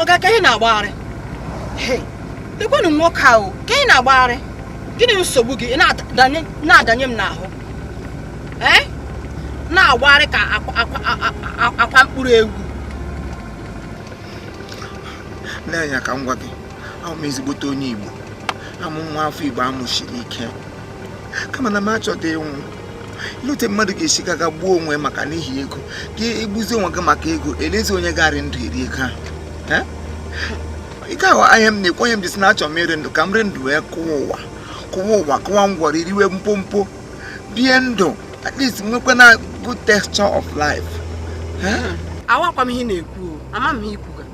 ọga ke ihe ị na-agbagharị Hey, lekwanụ nwoke ahụ ke ihe ị na-agbagharị gịnị bụ nsogbu gị Ị na-adanye m n'ahụ ee na-agbagharị ka akwa- akwa- a- a- akwa mkpụrụ ewu nna enyi a ka m gwa gị awụ m ezigbote onye igbo awụ m nwa afọ igbo a mụshiri ike kama na m achọghị ịnwụ i lete mmadụ ga-esi gaga gbuo onwe maka n'ihi ego gị egbuzi onwe gị maka ego elezi onye ga-arị ndụ eri ego ahụ ike ahụ ihe m na-ekwu ihe m ji sị na achọ m ịrị ndụ ka m rị ndụ wee kụwa ụwa kụwa ụwa kụwa ngwọrọ iriwe mpompo bie ndụ at least nwekwana good texture of life awakwa m ihe ị na-ekwu ama m ihe i kwuga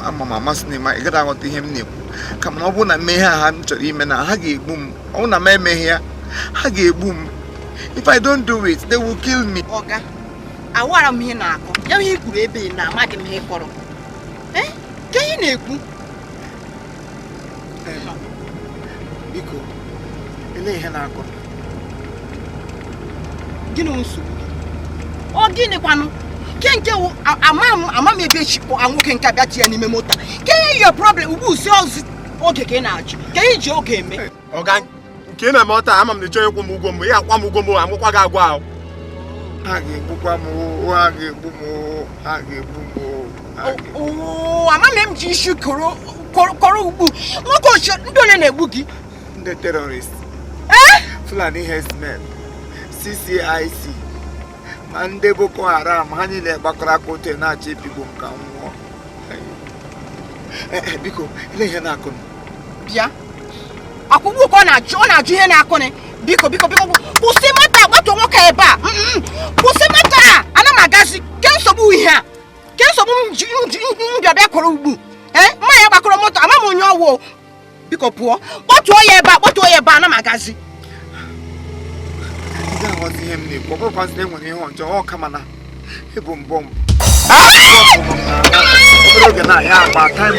ama m ama sị na ị ma ị gaghị aghọta ihe m na-ekwu kama na ọ bụrụ na m emeghị ihe a m chọrọ ime na ha ga-egbu m ọ bụrụ na m emeghị ya ha ga-egbu m if i don't do it they will kill me ọga awara m ihe ị na-akọ ya ihe i kwuru ebe na amaghị m ihe ị kọrọ ee ke ihe ị na-ekwu biko ele ihe ị na-akọ gịnị nsogbu ọ gịnịkwanụ ke nke wụ ama m ebe e shi kpọ nwoke nke a bịa ti ya n'ime moto ke your problem ọ bụzi oge ka ị na-ajụ ke ihe i ji oge eme ọga nke a n'ime moto ama m na ị chọghị ịkwụ m ụgwọ m bịa kwụọ m ụgwọ m amụkwa gị agwa ahụ ha ga-egbukwa m oo, ha ga-egbu m oo, ha ga-egbu m oo, ha ga-egbu m. Oo, amama m ji isi koro koro- koro ugbu nwoke ochie ndị ole na-egbu gị ndị terrorist fulani herdsmen ccic ma ndị boko haram ha niile gbakọrọ aka otu na-achọ ịpịgbu m ka m nwụọ eh, eh, biko ele ihe ị na-akọ bịa akwụkwọ ụkọ na-ajụ ọ na-ajụ ihe na-akọnị biko biko biko kwụsị moto kpọtuo nwoke ebe a mm, mm, mm. kwụsị moto a ana m agazi ke nsogbu ihe a ke nsogbu m ji bịa bịa kwụrụ ugbu ee eh, mụ na ya gbakọrọ moto ama m onye ọ wụ biko pụọ kpọtuo ya ebe a kpọtuo ya ebe a ana m agazi aghọzi ihe m na-ekwu ọ bụrụkwa na e nwere ihe ọjọọ ọ kama na i bu bomb obere oge na ya agba time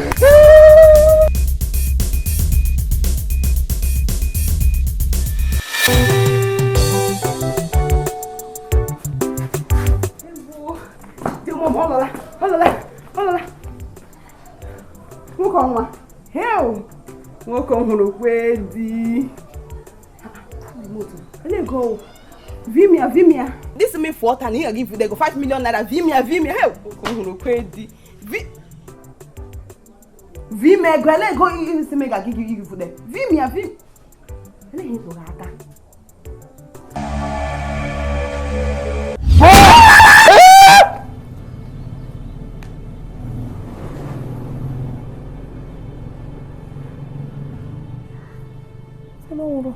nwoke ọhụrụ kwe di vimia vimia this me for ọta na ị ga-aga ifude go 5 million naira vimia vimia he nwoke ọhụrụ kwe di vi m ego ele ego isi m ga-agị gị gị fude vi m ya vi ele ihe tụrụ aka Hello.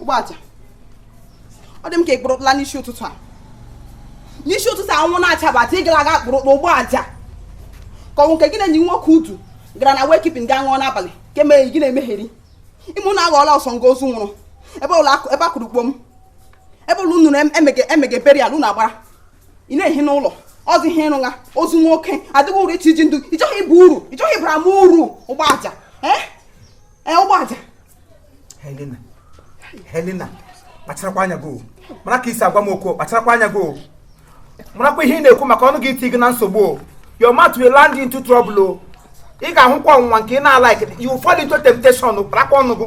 ụgbọaja ọ dị m ka ị kpụrụtụla n'isi ụtụtụ a n'isi ụtụtụ anwụ na-achabata ị gara aga kpụrụtụ ụgbọaja ka ọ wụ nke gị na enyi nwoke Udu gara na wake keeping gaa ṅụọ n'abalị ka eme gị na-emegheri ime ụnụ aghọọla ọsọ nga ozu nwụrụ ebe a kụrụ kpom ebe ọbụla unu nụrụ emege burial unu agbara ị na-ehi n'ụlọ ọ dị ihe ị rụgha ozu nwoke adịghị uru iti ji ndụ ị chọghị ịba uru ị chọghị ịbara m uru ụgbọaja ee e, ụgbọaja Helena Helena kpacharakwa anya gị mara ka i si agwa m okwu kpacharakwa anya gị marakwa ihe ị na-ekwu maka ọnụ gị iti gị na nsogbu o your mouth will land into trouble o ị ga-ahụkwa ọnwụnwa nke ị na-alaik you fall into temptation kparakwa ọnụ gị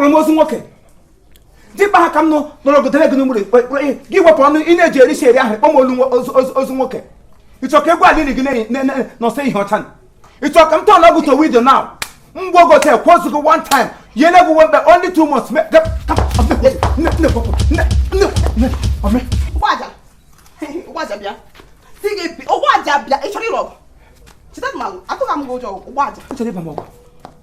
kpọrọ m ozu nwoke dịkpa ha ka m nọrọ ogodere gị n'ugburu gị wepụ ọnụ ị na-eji eri si eri ahụ kpọ m olu ozu nwoke ị chọ ka egwu alili gị nọsọ ihe ọcha ị chọ ka m turn-ụọ gị to widow na mgbe ogote kwụọ gị one time yele gị wembe only two months ụgbọaja bịa si gị ụgbọaja bịa ị chọrọ ịlụ ọgụ cheta na atụghị m gị ụjọ ụgbọaja ị chọrọ ịba m ọgụ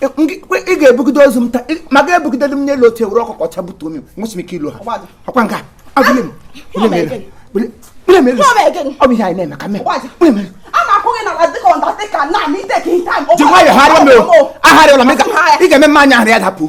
ị ga-ebugide ozu m taa ma ga ebugide m n'elu otu e buru ọkụkọ ọcha butuo m nwesị m ike ilu ha ọkwa nka agụle m ọ bụ ihe anyị na-eme ka mee ji nwayọ harịọ m o aharịọla m ị ga-eme mma anya ahụ ya dapụ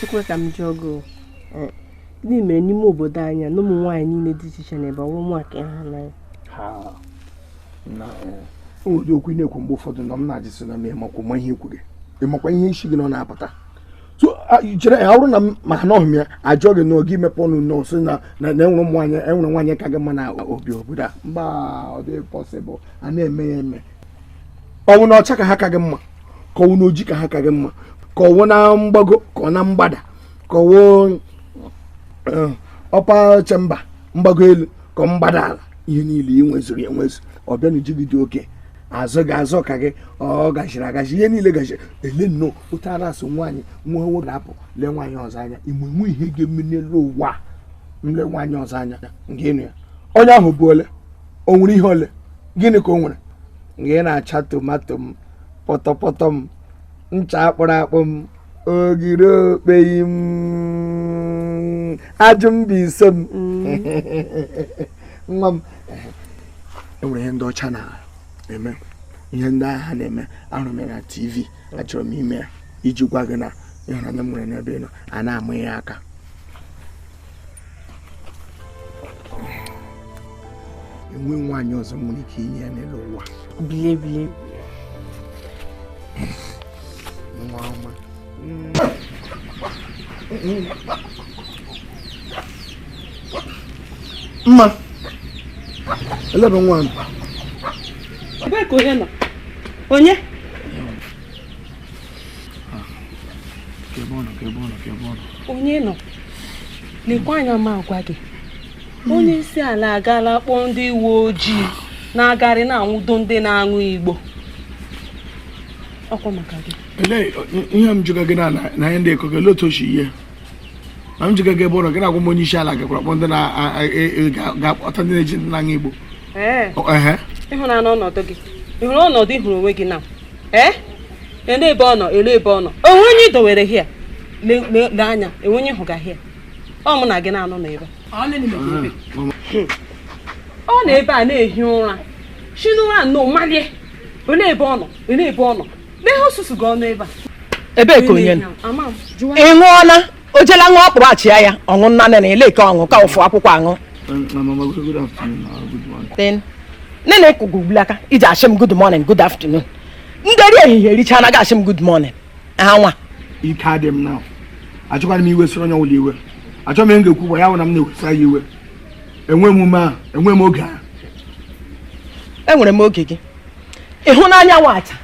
Chukwu ka m jụọ gị eh, gịnị mere n'ime obodo anyị na ụmụ nwaanyị niile dị iche iche nọ ebe ọ wụ mụwa ka ị hụ n'anya o nwere okwu ị na-ekwu mgbe ụfọdụ na m na-ajụ sị na m ị makwa ihe ị kwuru ị makwa ihe si gị n'ọnụ apụta so chere ya ọrụ na maka na ọhụm ya ajụọ gị n'oge imepe ọnụ na-asị na na enwere ụmụ nwaanyị enwere nwaanyị ka gị mma n'obi obodo a mba ọ dịghị possible a na-eme ya eme ọ wụ na ọcha ka ha ka gị mma ka ọ wụ na oji ka ha ka gị mma ka ọ wụ na mgbago ka ọ na mgbada ka ọ wụ eh, upper chamber mgbago elu ka ọ mgbada ala ihe niile ị nwezuru ya enwezu ọ bịa na uju gị dị oke azụ gị azụ ka gị ọ gachiri agachi ihe niile gachiri ele nnọọ otu ara asụ nwaanyị nwa nwoke apụ lee nwaanyị ọzọ anya enwe ihe ga-eme n'elu ụwa a, m lee nwaanyị ọzọ anya nke ịnụ ya onye ahụ bụ ole o nwere ihe ole gịnị ka o nwere nke na-acha tomato m pọtọpọtọ m ncha akpụrụ akpụ m ogiri okpei m aju Mbaise m nwa m e nwere ihe ndị ọcha na-eme ihe ndị ahụ na-eme ahụrụ m ya na tv achọrọ m ime ya iji gwa gị na ịhụnanya m nwere n'ebe ị nọ a na-amụ ya aka enwe nwaanyị ọzọ nwere ike inye ya n'elu ụwa bile bile nwa ọma mma elebe nwa m ebee ka onye nọ onye onye nọ lekwa anya ma agwa gị onye isi ala agaala kpọọ ndị uwe ojii na-agarị na-anwụdo ndị na-aṅụ igbo ọ kwa maka gị ihe m jụga gị na ihe ndị ị kọga olee otu o shi yie ma m jụga gị ebe ọ nọ gị na-agwa m onye isi ala gakwara kpọ ndị na-akpọta e, e, ndị na-eji ndị na-aṅụ igbo ị hụna ọnọdụ gị ị hụrụ ọnọdụ ị hụrụ onwe gị na ee ele ebe ọ nọ ele ebe ọ nọ o nwe onye ị dowere here le- le- lee anya enwe onye hụga here ọ mụ na gị na-anọ n'ebe a. ọ nọ ebe a na-ehi ụra si n'ụra nnọọ malie ele ebe ọ nọ ele ebe ọ nọ lee ha susuga ọnụ ebe a ebee ka onye nọ Ama m, jụwa ị ṅụọla o jela ṅụọ akpụrụ achịa ya ọṅụ nna nene ele ka ọṅụ ka ụfụ akwụkwọ aṅụ nene kụgụ ugbula ka i ji ashị m good morning good afternoon nderi ehihie erichana gị ashị m good morning ha nwa ike adị m na achọkwara m iwe soro onye ọbụla iwe achọ m ihe m ga-ekwu gwa ya bụ na m na-ewesa ya iwe enwe m ume a enwe m oge a enwere m oge gị ị hụna anyanwụ cha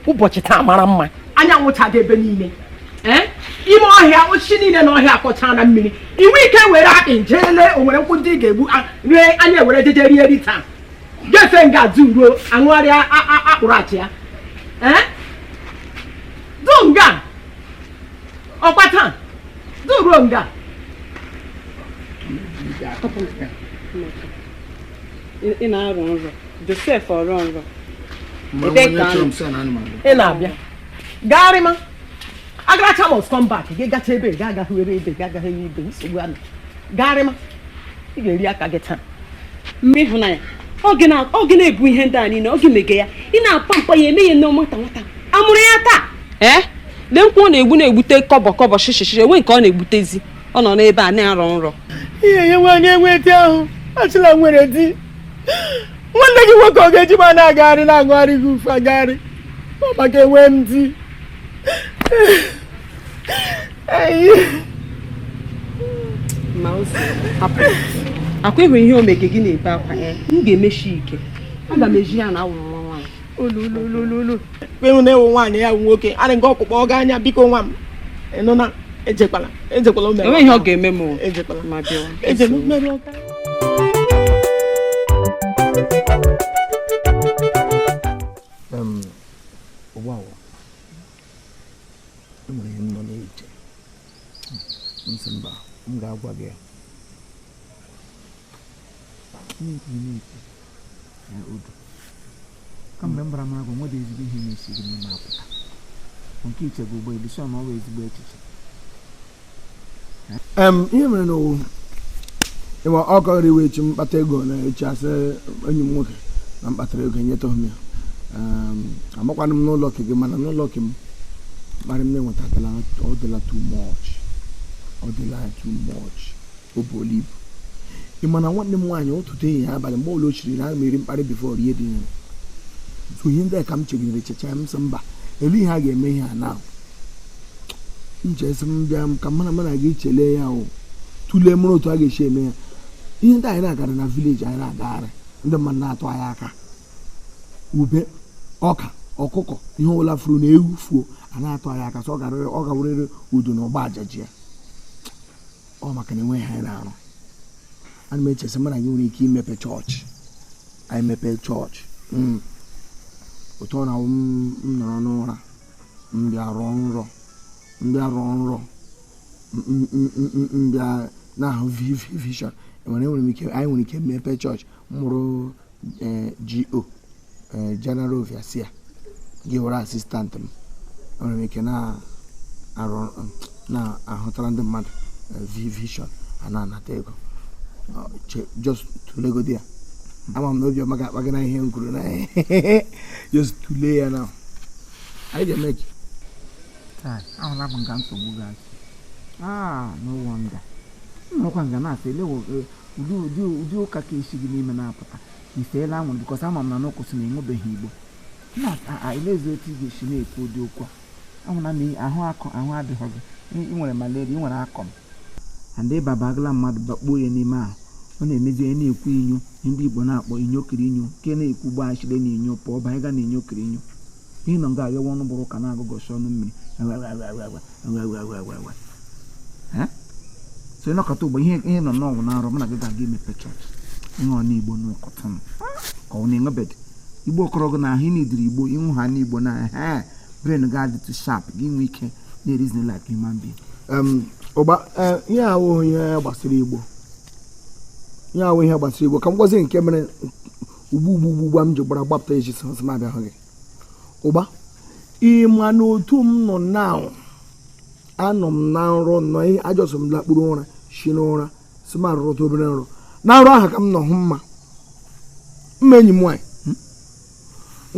ụbọchị taa mara mma anyanwụ chaga ebe niile Eh? ime ọhịa osisi niile na ọhịa akọchana mmiri ị nwe ike were akpị jee lee o nwere nkwụ ndị ị ga-egbu a- ree anya were jeje rie ri taa jefe nga du ruo aṅụgharịa a- a- akpụrụ achịa Eh? du nga ọ kwa taa du ruo nga ị na-arọ nrọ Josef Ọrọnrọ ị na-abịa gagharịma agaracha must come back gị gacha ebe ga agaghị were ebe ga agaghị ebe ibe nsogbu anụ gagharịma ị ga-eri aka gị taa mma ịhụnanya ọ gị na-ebu ihe ndị a niile ọ gị mege ya ị na-apampa ya eme ya nnọọ nwata nwata a mụrụ ya taa ee eh? lee nkwụ ọ na-egbu na-egbute kọbọ kọbọ shishi enwe nke ọ na-egbutezi ọ nọ n'ebe a na-arọ nrọ ihe ya nwaanyị enwe di ahụ achịla nwere di nwanne gị nwoke ọ ga-eji ma na-agagharị na-agụgharị gị ufe agagharị ọ maka enwe m di ọ kwa ị hụ ihe o mege gị na-ebe akwa m ga-emechi ike aga m eji ya na awụrụ nwa nwaanyị ewena iwe nwaanyị ya wụ nwoke arị nke ọkpụkpọ ọ gaa anya biko nwa m ị nụna ejekwala ejekwala o mere ihe ọ ga-eme m ejekwala ma bịa eje m mere ọka na-ekwu na-ekwu na odu kamgbe m bara m agwa nwere ezigbo ihe na-esi gị n'ime apụta nke iche bụ ụgbọ elu sọ na ọ bụ ezigbo echiche Em, ihe mere na ọ wụ ị ma ọ kọrọ iwe echi m kpata ego na echi asị enyi m nwoke na m kpatara ego enyeta m ya Em, amakwanụ m n'ụlọ ke gị mana n'ụlọ ke m mkparị m na-enweta ọ dịla too much ọ dịla too much o buola ibu ị ma na nwanne m nwaanyị ụtụtụ ehihie abalị mgbe ọbụla o chiri na ana m eri mkparị before erie dị nri so ihe ndị a ka m chegidere checha m sị mba elee ihe a ga-eme ihe a na m chesị m bịa m ka mụ na gị chelee ya o tụlee mara otu a ga-esi eme ya ihe ndị anyị na-agara na village anyị na-agagharị ndị mmadụ na-atụ anyị aka ube ọka ọkụkọ ihe ọbụla furu na ewu fuo a na-atụ anyị aka so ọ ga-awụrịrị udu na ọgba ajaji ya ọ maka na enweghị ihe anyị na-arụ ana m echesi mana anyị nwere ike imepe chọọchị anyị mepe chọọchị hmm. otu ọ na-awụ m nọrọ n'ụra m bịa rọọ nrọ m bịa rọọ nrọ m bịa na-ahụ vision enwere enwere m ike anyị nwere ike mepe chọọchị m wụrụ eh, GO eh, General Overseer gị awụrụ assistant m enwere m ike na-ahụtara ndị mmadụ eh, vision a na-anata ego just tụlegodi ya ama m na obiọma ga-akpa gị na ihe m kwuru na just tụlee ya na anyị ga-eme gị ahụla m nga nsogbu gị si ah no wonder nnọkwa nga na-asị elewo ụdị ụdị ụdị ụka ka esi gị n'ime na-apụta i seela anwụrụ bikọs ama m na n'ụkụsị na enwebeghị igbo na ilezi otu ị ga-esi na-ekwu ụdị okwu a ahụ na ahụ akọ ahụ adịghị gị ị nwere malaria ị nwere akọm and ịba bagala mmadụ bakpuo ya n'ime ahụ ọ na-emezi onye na-ekwu inyo ndị igbo na-akpọ inyo kiri inyo nke na-ekwu gbachire na inyo pụọ banye ga na inyo kiri inyo Ihe nọ nga aghewe ọnụ bụrụ ụka na-agụgọsi ọnụ mmiri so ị nọkata ụgba ihe ihe nọ n'ọnwụ na-arụ mụ na gị ga-aga imepe chọọchị ihe ọ n'igbo n'ụkọtụ m ka ọ na-enwebed igbo okorogo na ahụ ị needịrị igbo ịnwụ ha n'igbo na he brain gị adịtụ sharp gị nwee ike na-reason like human being ụgba ihe awụghị ihe gbasara igbo ihe awụghị ihe gbasara igbo ka m gwazi nke mere ugbu ugbu ugbua m ji gbara gbapụta eji sị m abịa hụ gị ụgba ị ma na otu m nọ na anọ m na nrọ nọ ihe ajọsọ m lakpuru ụra si n'ụra sị m arọrọta obere nrọ na nrọ ahụ ka m nọ hụ mma mma enyi m nwaanyị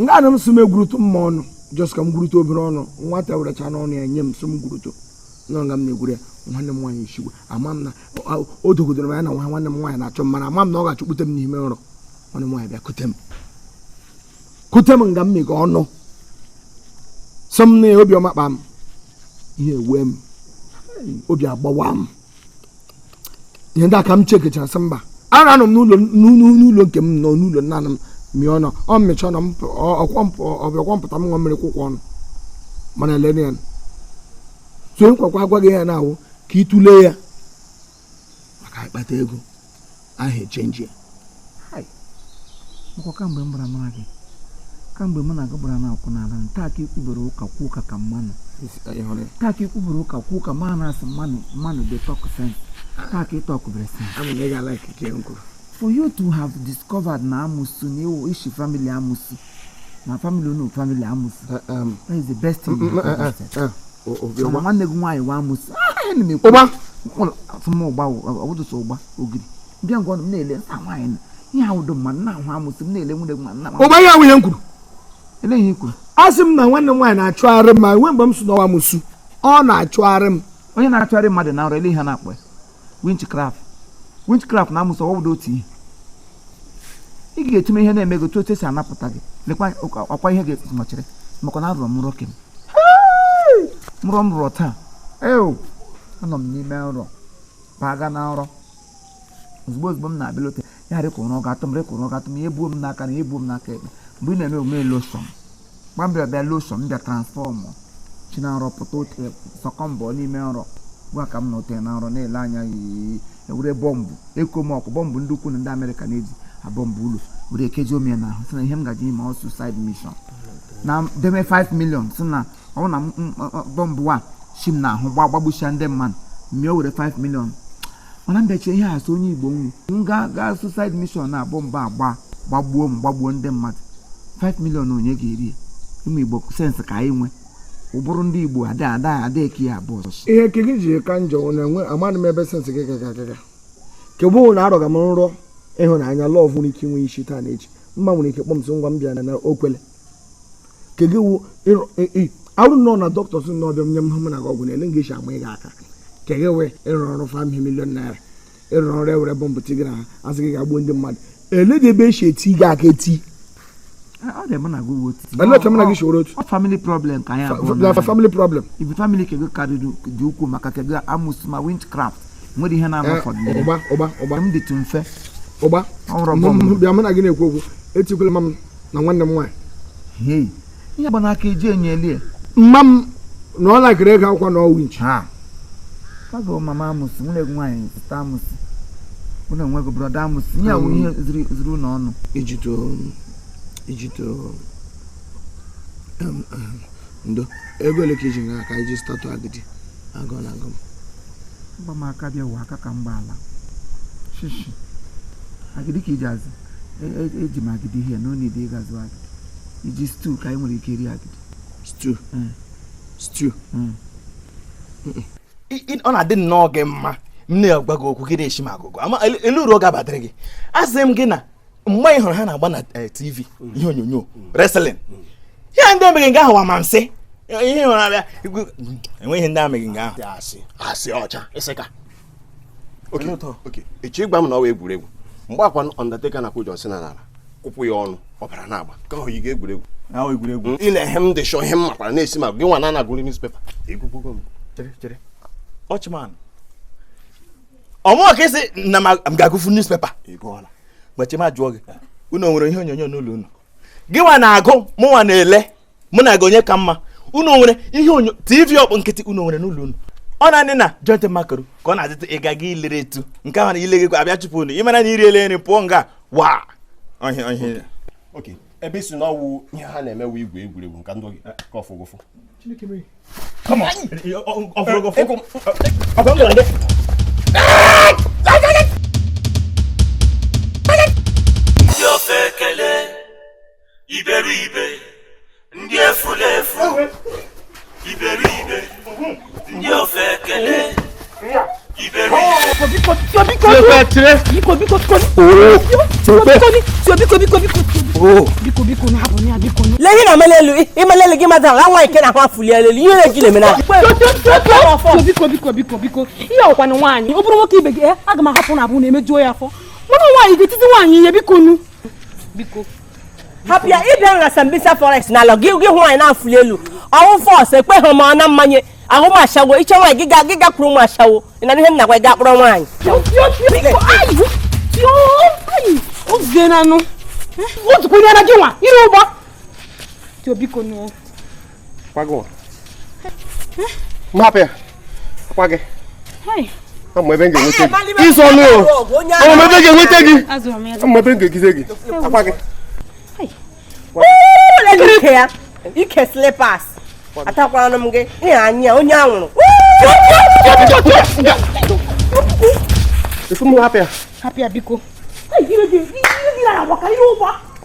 nga anọ m sị m egwurutu mma ọnụ jọs ka m gwurutu obere ọnụ nwata werechanụ ọnụ ya nye m sị m gwurutu nọ nga m na-egwuru ya nwanne m nwaanyị esigwe ama m na ọ- o dogodoro m ya na nwa nwanne m nwaanyị na-achọ m mana ama m na ọ ga-achụkpute m n'ime nrọ nwanne m nwaanyị bịa kute m kute m nga m mịga ọnụ sị m na ya obiọma kpam iwe ewee m obi agbawa m ihe ndị a ka m chekechara sị mba ara anọ m n'ụlọ n'ụlọ nke m nọ n'ụlọ nna m mịa ọnụ ọ mmịcha ọnụ ọ bịakwa m pụta m ṅụọ mmiri kwụkwọ ọnụ mana elene ya so nkwakwa agwa gị ya na ọ wụ ka ị tụlee ya maka ịkpata ego ahụ echenji ya Nkwa kamgbe m gbara mara gị kamgbe mụ na gị gbara na akwụ n'ala taa ka i kwubere ụka kwuo ụka ka mmanụ taa ka i kwubere ụka kwuo ụka mmanụ asị mmanụ mmanụ dey talk sense taa ka ị tọkụbere sense for you to have discovered na amusu na ị wụ ishi family amusu na family unu family amusu eh, um, that is the best thing mm, mm, eh, eh, mana nwanne gị nwaanyị wụ amusu ah, ụgba ọbụdụsọ ụgba ogiri bịa ngwa m na-ele nsa nwaanyị ihe ahụ dị mma nna ahụ amusu m na-ele nwunye nwa nna m ụgba ihe awụghị ihe m kwuru ele ihe i kwuru asị m na nwanne m nwaanyị na-achụgharị m ma nwe mgbe m sị na ọ wụ amusu ọ na-achụgharị m onye na-achụgharị mmadụ na nrọ ele ihe na-akpọ ya witchcraft witchcraft na amusu ọ wụda otu ihe ị ga-etume ihe na-eme gị otu otu esi anapụta gị lekwa ọkwa ihe ga-ekpụtụmachịrị maka na arọrọ m nrọ kem nrọ m rọrọ taa eo anọ m n'ime nrọ baga na nrọ ozugbo ozugbo m na-abịa lote ya rịkwa ụra ọga atụ m rịkwa ụra ọga atụ m ya ebuo m n'aka nri ya ebuo m n'aka ekpe mgbe ị na-eme omume loshọn gwa m bịa bịa loshọn m bịa transfọmụ shi na nrọ pụta otu sọkọ mbọ n'ime nrọ gwa ka m na ote na nrọ na-ele anya yiyi ewere bọmbụ atomic bọmbụ ndị ukwu na ndị amerịka na-eji abọmbụ ụlọ were kechie m n'ahụ sị na ihe m gaji ime ọ suicide mission na deme 5 million sị na ọ bụrụ na m- m- m- bọmbụ a si m n'ahụ gba gbagbusia ndị mmadụ m bịa were 5 million mana m bịa chee ihe a sị onye igbo m wụ m gaa gaa suicide mission na bọmbụ a gba gbagbuo m gbagbuo ndị mmadụ 5 million onye ga-eri ya ụmụ igbo sensị ka anyị nwe ụbụrụ ndị igbo ada ada ada eke ya abụọ ọzọ ihe ke gị ji ka njọ wụ na enwe amadị m ebe sensị gị gaga gaga kegbu wụ na arọga m nrọ ịhụnanya love nwere ike inwe isi taa na echi mma nwere ike kpọọ m sị ngwa m bịa na na o kwele ke gị wụ arọ nrọ na dọkịta sị na ọ bịa nye mụ na gị ọgwụ na-ele nga esi agba gị aka ke gị wụ ịrọ nrọ 5 million naira ịrọ nrọ ewere bọmbụ tie gị n'ahụ sị gị gaa gbuo ndị mmadụ ele dị ebe esi eti gị aka eti ọ dị mụ na gị wuo titi ele oche mụ na gị shoro otu ọ family problem ka anyị abụọ na na family problem ibi family ke gị karịrị dị ukwuu maka ke gị amusu ma witchcraft nwere ihe na-anọ fọdụ n'ime. ụgba ụgba ụgba m dịtụ mfe ụgba ọ nwụrụ Mụ- ọbụla mụ bịa mụ na gị na-ekwu okwu etikwala mma m na nwanne m nwaanyị hei ihe gba n'aka eji enye elie mma m na ọ lakịrị ego akwụkwọ na ọ wụ winchi ha agụ mama amusu nwanne gị nwaanyị sista amusu nwanne gị brọda amusu ihe a wụ ihe zuru zuru unu ọnụ ijito ijito em, em, ndo ego ole ka i ji nga a ka i ji statụ agidi agụụ na-agụ m m gba m aka bịa ụwa aka ka m gba ala shishi agidi ka iji azụ E- e- eji m agidi ihe na onidi ị ga-azụ agidi i ji stew ka anyị nwere ike iri agidi stew Mm. stew Mm. I- i- ọ na-adị nnọọ gị mma m na-agwa gị okwu gị na-eshi m agụgọ ma ele- ele uru ọ ga-abatara gị asị m gị na mgbe ị hụrụ ha na-agba na eh, tv mm. ihe onyonyo mm. wrestling mm. ihe ndị omeghị nga ahụ wụ amansị ihe hụrụ abịa enweghị ihe ndị ameghị nga ahụ asị ọcha ịsịka echi ị gwa m na ọ wụ egwuregwu mgbe akwa Undertaker na-akụ John Cena n'ala kụpụ ya ọnụ ọbara na-agba ka ọ yi ga egwuregwu egwuregwu i le ihe m dị shọ ihe m makwara na-esi ma gị nwa na-agụrụ newspaper egwugwugo m ọchịman ọ mụ ka ị sị na m ga-agụfu newspaper gbachi m ajụọ gị unu nwere ihe onyonyo n'ụlọ unu gị nwa na-agụ mụ nwa na-ele mụ na gị onye ka mma unu nwere ihe onyo tv ọkpụ nkịtị unu nwere n'ụlọ unu ọ naanị na joint makaro ka ọ na-adịtụ ịga gị ilere etu nke ahụ na ile gị abịa chụpụ unu ị mara na i riele nri pụọ nga wa ebe ị sị na ọ wụ ihe ha na-emewe igwe egwuregwu nka ndị ka ọfụgụfụ ndị ofeke iberibe ndị efulefu iberibe ndị ofeke lee ihe na-amali elu ịmali elu gị mmadụ ala nwa nke na-ahụ afụli elu ihe na-eji na-eme na biko biko biko biko ihe ọ kwanụ nwaanyị ọ bụrụ nwoke ibe gị aga m ahapụ na abụ na-emejuo ya afọ mana nwaanyị ga-etiti nwaanyị ihe bikonụ biko hapụ ya ị bịa na Sambisa forest na ala gị gị hụ anyị na-afụli elu ọ wụ force ekweghị m ọ na mmanye ahụ m ashawo iche nwaanyị gị ga gị gakwuru ụmụ ashawo ị na ihe m na-agwa gị akpọrọ nwaanyị ozukwunyere gị nwa ire ụgbọ bikonụ kwago mapụ ya akwa gị ama ebe m ga-enweta gị ịzụ ọnụ o ama ebe m ga-enweta gị ama ebe m ga-egize gị akwa gị ike ya ike slippers atakwanụ m gị ihe anya onye anwụrụ efu m hapụ ya hapụ ya biko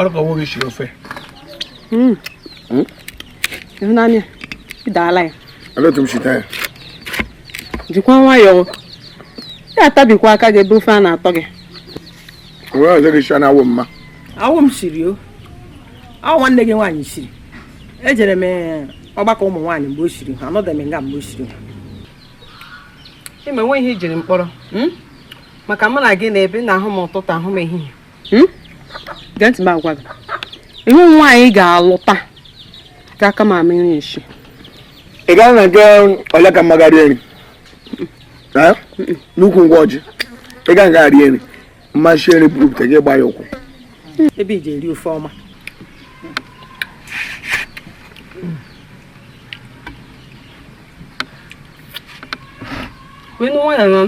ọ rụ ka ọ wụ gị shiri ofe hmm. Hmm? ịhụnanya ị daala ya otu m shita ya jikwa nwayọọ ya atabikwa aka gị ebe ofe a na-atọ gị o nwe ọzọ gị sị na awụ mma awụ m siri ọ wụ nwanne gị nwaanyị siri ejere m eh, ọgbakọ ụmụ nwaanyị mgbe o siri ha anọdụ m nga mgbe o siri ha ime nwe ihe i jiri m kpọrọ hmm? maka mụ na gị na-ebi na-ahụ m ụtụtụ ahụ m ehihie hmm? gee ntị m agwa gị ihe nwaanyị ị ga-alụta ga-aka m ama iri eshi ị gaa na nke ole ka mma ga rie nri n'ukwu ngwa ọjị ị gaa nga rie nri ma m shi nri bupụta gị gbaa ya ụkwụ ebe i ji eri ofe ọma wenu nwa ya nọ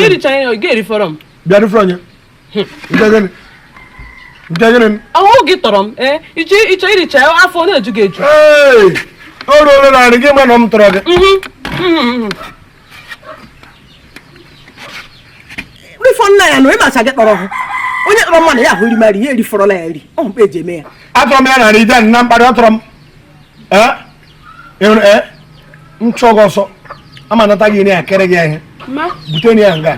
ị richara ya ọ ga-erifọrọ m bịa rifọrọ ya ọ wụ gị tọrọ m eh, ịchọ iricha afọ na-eju gị eju o ruola na nri gị ma na m tọrọ gị mhm, mhm, mhm. rifọ nna ya na ịmacha gị tọrọ onye tọrọ mmadụ ya ahụ rima nri ya erifọrọla ya eri ọ mkpa eji eme ya atọrọ m ya na nri ije na mkparị ọ tọrọ m eh? nchọgọ eh, ọsọ ama nata gị ya kere gị ihe bute ya nga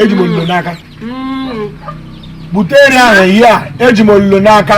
eji m ololo n'aka mm. bute nri ahụ ihe a eji m ololo n'aka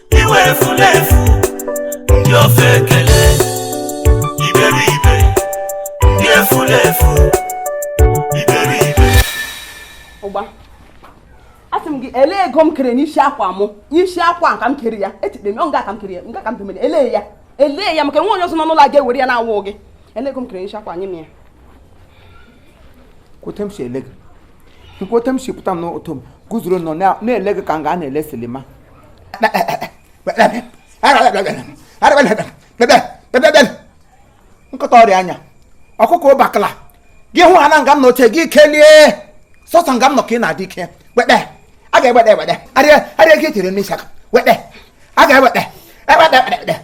iwe efulefu ndị ofeke iberibe ndị efulefu iberibe ụgba asị m gị ele ego m kere n'isi akwa mụ n'isi akwa ka m kere ya echekpe m ọ nga ka m kere ya nga ka m bemere ele ya ele ya maka nwa onye ọzọ nọ n'ụlọ a ga-ewere ya na-awụ gị ele ego m kere n'isi akwa nye m ya kwote m si ele gị kwote m si pụta m n'ụzọ m guzoro nọ na-ele gị ka m ga na-ele silima nkịta ọrịa anya ọkụkọ ụbakala gị hụ ha na nga m na oche gị kelie sọsọ nga m nọ ka ị na-adị ike wede a ga-ewede ewede arịa arịa gị echere n'isi akwa wede a ga-ewede ewede ewede ewede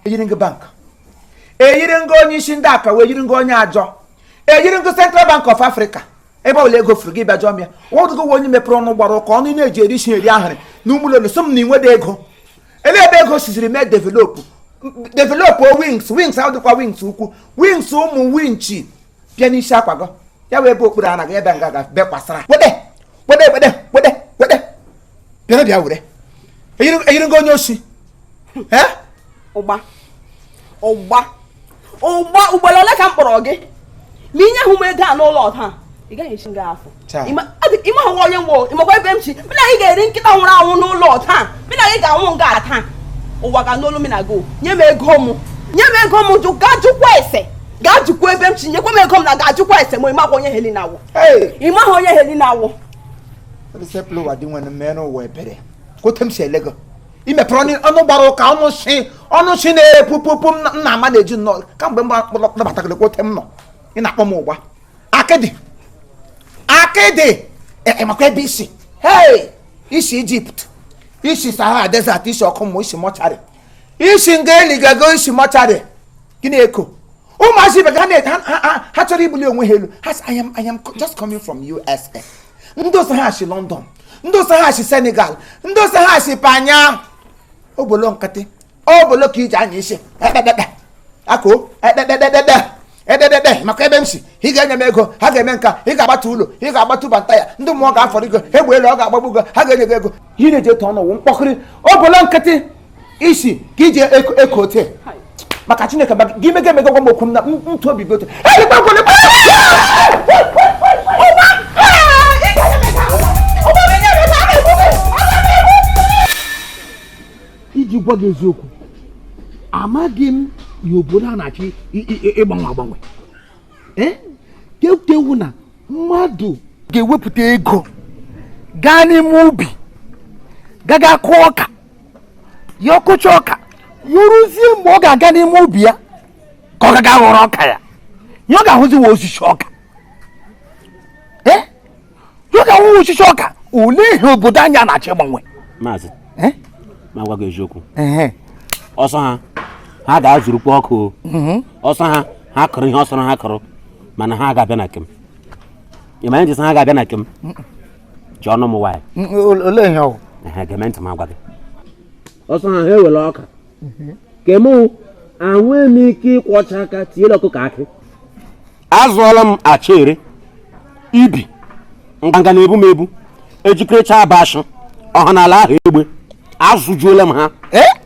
eyiri m gị bank eyiri m gị onye isi ndị akawo eyiri m gị onye ajọ eyiri m gị central bank of africa ebe ọbụla ego furu gị bịa jụọ m ya nwadụgo nwe onye mepere ọnụ gbara ụka ọnụ na-eji eri nsị eri ahịrị na ụmụlọ so m na inwede ego ele ebe ego siziri mee developụ developụ wings wings ahụ dịkwa wings ukwu wings ụmụ winchi bịa n'isi akwa gị ya wee ebe okpuru anaghị ebe nga ga bekwasara wede wede wede wede wede bịara bịa were eyiri m gị onye osi ụgba ụgba ụgba ugboro ole ka m kpọrọ gị ma i nyehụ m ego a n'ụlọ taa ị gaghị esi nga afụ ịma hụwa onye m wụ ịmakwa ebe m si mụ na gị ga-eri nkịta nwụrụ anwụ n'ụlọ taa mụ na gị ga-anwụ nga taa ụwa ga-anụ olu mụ na gị nye m ego m nye m ego m jụ gaa jụkwa ese gaa jụkwa ebe m si nyekwa m ego m na gaa jụkwa ese ma ịmakwa onye Helina wụ ịmaghị onye Helina wụ Receplo wa di nwanne m mee n'ụwa ebere. Kwote m si ele gị. i mepere ọnụ ọnụ gbara ụka ọnụ si ọnụ si na-epupụpụ m na- m na-ama na-eji nnọọ kamgbe m nabatagara kwote m nọ ị na-akpọ m ụgba akịdị akịdị e- e, makwa ebe i si hei i si ijipt i si sahara desert i si ọkụ mmụọ i si mọcharị i si nga eligago i si mọcharị gịnị eko ụmụazị ibe ha chọrọ ibuli onwe ha elu ha sị I am I am just coming from USA ndị ọ sọ ha sị London ndị ọ sọ ha sị Senegal ndị ọ sọ ha sị Panya obolo nkịtị obolo ka e ji anya isi ekpekpekpe akụ ekpekpekpekpe ededede maka ebe m si ị ga-enye m ego ha ga-eme nka ị ga-agbata ụlọ ị ga-agbata ụba nta ya ndị mmụọ ga-afọrọ ego egbe elu ọ ga-agbagbu ego ha ga-enye gị ego ihe na-eji etu ọnụ wụ mkpọkịrị obolo nkịtị isi ka e ji eko ote maka Chineke gị mega emega gwa m okwu na ntụ obi gị ote iji gwa gị eziokwu amaghị m ihe obodo a na-achọ ịgbanwe agbanwe eh? kewu na mmadụ ga-ewepụta ego gaa n'ime ubi gaga kụọ ọka ya akụcha ọka ya eruzie mgbe ọ ga-aga n'ime ubi ya ka ọ gaga ghọrọ ọka ya ya ọ ga-ahụziwa osisi ọka ọ ga-ahụwa osisi ọka olee ihe obodo anyị a na-achọ ịgbanwe maazị Eh? ma gwa gị eziokwu Ehe. ọ sọ ha ha gaa zụrụkwa ọka o. Mhm. ọ sọ ha ha kụrụ ihe sọrọ ha kụrụ mana ha ga-abịa na ke m ị ma anyị jesi ha ga-abịa na ke m ji ọnụ m nwaanyị Mm, ole- olee ihe ọ bụ? ehe gee m ntị m agwa gị ọ sọ ha ha ewere ọka ke mụ anwee m ike ịkwọcha aka tiere ọkụkọ akị azụọla m acha ere ibi nganga na-ebu m ebu ejikerecha abashị ọha n'ala ahụ egbe azụjuola m ha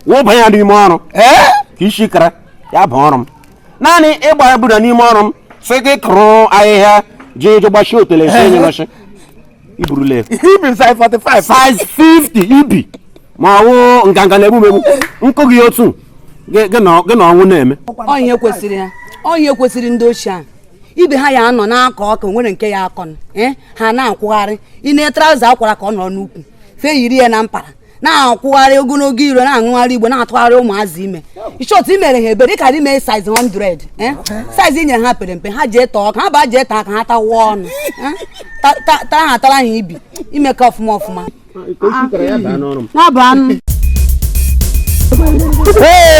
wụba ya n'ime ọrụ ka isi kara ya bụ ọrụ m naanị ịgba ya bụda n'ime ọrụ m sị gị kụrụ ahịhịa jee je gbachie otele esi enye nọchị i burule ibi size 45 size 50 ibi ma ọ wụ nganga na-egbu m egbu nkụ gị otu gị gị na gị na ọnwụ na-eme onye kwesịrị ya onye kwesịrị ndị ochie a ibe ha ya anọ na-akọ ọka o nwere nke ya akọ eh, ha na-akwụgharị ime trouser a kwara ka ọ nọrọ n'ukwu fe yiri ya na mpara na-akwụgharị ogologo iro na-aṅụgharị igbo na-atụgharị ụmụazị ime ị chọọ imere ha ebere karị mee size 100 eh? size i nye ha pere mpe ha jee tọọ ka ha ba jee taa ka ha tawa ọnụ eh? taa ha tara ha ibi ime ka ọfụma ọfụma Hey!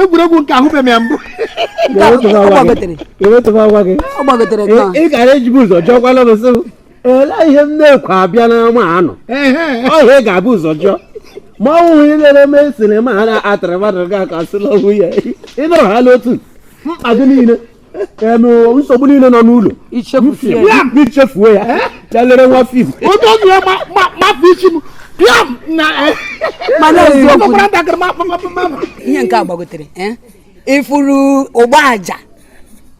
egwuregwu nke ahụbeghị ya mbụ ị gara ejibu ụzọ jọkwala n'ụsọ olee ihe m na-ekwu abịa n'ama anọ ọhịa ị ga-ebu ụzọ jụọ ma ọ wụghị ilere mee sinima a na-atara mmadụ ga aka sịla ọgwụ ya ịnọrọhala otu mkpa gị niile nsogbu niile nọ n'ụlọ ichefuo ya ya lere nwa fim onye ọnụ ya mafụ isi m pịam na mana eziokwu ihe nke a gbagotere ịfụrụ Ugboaja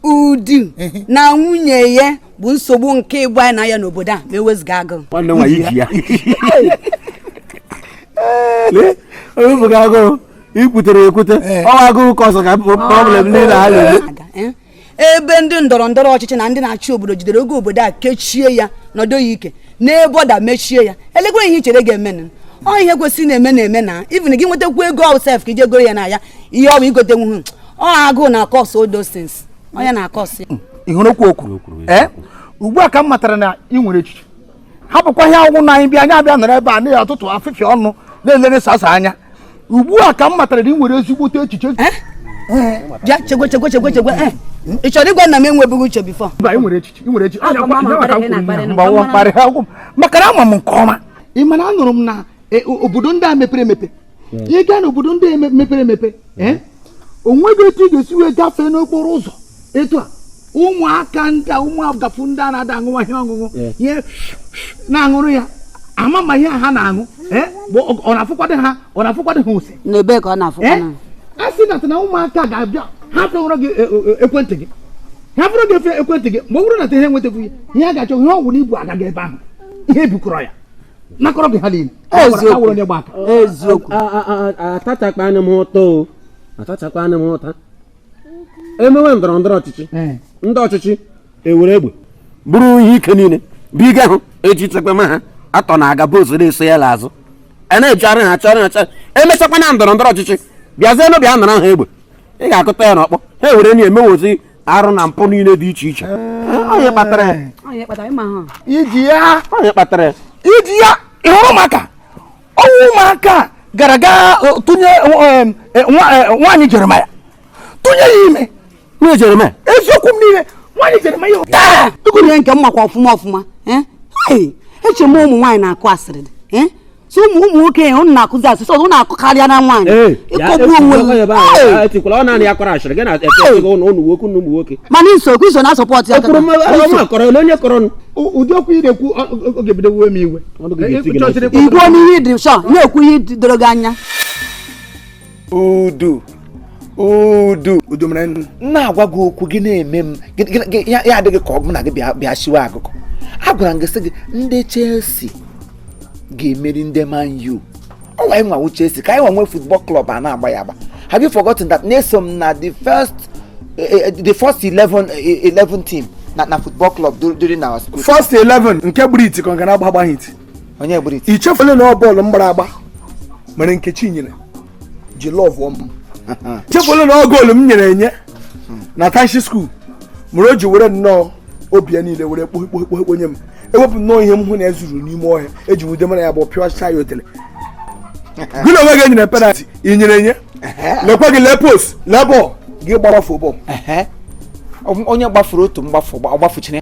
Udu na nwunye ya bụ nsogbu nke ịgba anyị na ya n'obodo a ma ewezuga agụụ nwanne nwaanyị ji ya lee onye bụ agụụ ikwutere ekwute eh. ọ wụ agụụ ka ọzọ ka problem niile ha na-eme eh? ebe ndị ndọrọ ndọrọ ọchịchị na ndị na-achị obodo jidere oge obodo a kechie ya nọdụ ya ike na border mechie ya elekwa ihe i chere ga-eme ọ ihe kwesịrị na-eme na-eme na even gị nwetakwu ego sef ka ije goro ya na ya ihe ọ bụ igote nwuhu ọ agụụ na-acause all those things onye na-acause ya hmm. ị hụrụ kwuo okwu eh? ugbu a ka m matara na ị nwere echiche hapụkwa ihe ọ wụ na anyị bịa anyị abịa nọrọ ebe a n'isi ụtụtụ afịfị ọnụ na-elere sasa anya ugbu a ka m matara na ị nwere ezigbote echiche eh? Eh, bịa chegwe chegwe chegwe chegwe eh, ị chọrọ ịgwa na m enwebeghị uche before maka na ama m nke ọma ị ma na anụrụ m na obodo ndị a mepere emepe hmm. ị gaa n'obodo ndị mepere emepe hmm. eh, onweghị etu ị ga-esi wee gafee n'okporo ụzọ etu a ụmụaka ndị ụmụ agafu ndị a na-ada aṅụwa ihe ọṅụṅụ ihe na-aṅụrụ ya ama ma ihe ha na-aṅụ eh, ọ na-afụkwadị ha ọ na-afụkwadị ha ose n'ebe ka ọ na-afụ eh, a sị na na ụmụaka ga-abịa ha fewụrụ gị ekwentị gị ha fụrụ gị efe ekwentị gị mgbe ọ bụrụ na ha enwetaghị ihe ha ga-achọ ihe ọ wụrụ i bu aga ebe ahụ ihe bukọrọ ya nakọrọ gị ha niile eziokwu eziokwu atachakwanụ m ụta o atachakwanụ m ụta emewe ndọrọ ndọrọ ọchịchị ndị ọchịchị ewere egbe buru ihe ike niile buga ha eji chekwama ha atọ na aga boys na-eso ya n'azụ a na-ejigharị ha chọrọ ha chọrọ emechakwa na ndọrọ ndọrọ ọchịchị bịazienụ bịa nara ha egbe ị ga-akụta ya n'ọkpọ ha ewere na emewozi arụ na mpụ niile dị iche iche onye kpatara ya onye kpatara ịma ha iji ya onye kpatara ya iji ya ịhụrụ ụmụaka ọ wụ ụmụaka gara gaa eh, tụnye eh, eh, nwa- eh, nwaanyị jeremaya tụnye ya ime nwunye jeremaya eziokwu m niile nwaanyị jeremaya taa Tukwunye nke m makwa ọfụma ọfụma eh? Ai, eche m ụmụ nwaanyị na-akụ asịrị dị eh? so ụmụ ụmụ nwoke ya ụnụ na-akụzi asịrị ọzọ ụnụ akụkarịala nwaanyị ịkọgbu onwe mana i so okwu i so na-asupport ya ụdị okwu ị na-ekwu ọ ga-ebido we m iwe ị gwa m ihe dị sure na-ekwu ihe doro gị anya udu udu udu mere m na-agwa gị okwu gị na-eme m ya adị gị ka ọ bụ m na gị bịa siwe agụgọ agwara m gị sị gị ndị Chelsea ga-emeri ndị Man U ọwụ anyị nwenwu Chelsea ka anyị nwenwe football club a na-agba ya agba have you forgotten that na eso m na the first eh, eh, the first 11 11 eh, team na na football club during our school first 11 nke gburu iti ka ọ ga na-agba agbaghị iti onye gburu iti ichefule na ọ bọọlụ m gbara agba mere Nkechinyere ji lọvụọ m chefule na ọ goolu m nyere enye na township school mere o ji were nnọọ obi ya niile were kpohekpohekpo nye m ewepụ nnọọ ihe m hụ na ezuru n'ime ọhịa eji wude mara ya bụ pịọcha ya otele gị na onwe gị enyere penalty i nyere enye lekwa gị lee post lee bọọlụ gị gbafuo bọọlụ onye gbafuru otu mgbafu ọgbafuchiri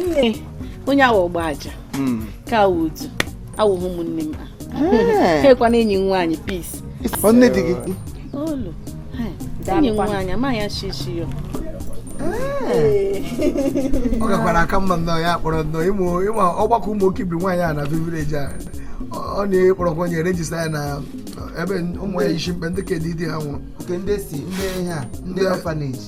nne onye awa ọgba aja hmm. ka awụ udu awụghị ụmụnne m ha ekwa na enyi nwaanyị peace nne di gị olu enyi nwaanyị amaghị ya shishi ya ọ gakwara aka mma nnọọ ya kpọrọ nnọọ ịmụ ọgbakọ ụmụ oke ibi nwaanyị a na village a ọ na-akpọrọkwa onye register ya na ebe ụmụ ya isi mkpe ndị nke di ha nwụrụ ndị si ndị ha ndị orphanage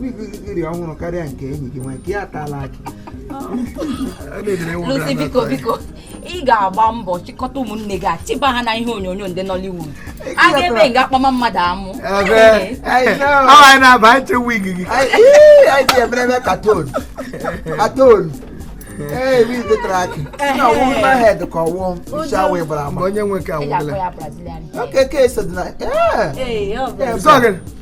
wig gị dị ọhụrụ karịa nke enyi gị nwa nke ya atala akị Lucy biko biko ị ga-agba mbọ chịkọta ụmụnne gị achịba ha na ihe onyonyo ndị Nollywood a ga-eme nga a kpama mmadụ amụ anyị na-aba anyị che wig gị anyị ji emerebe katon katon ee wig tara akị na ọwụ na head ka ọwụ isi awụ ịbara ama onye nwe ka awụla okeke so dị na ee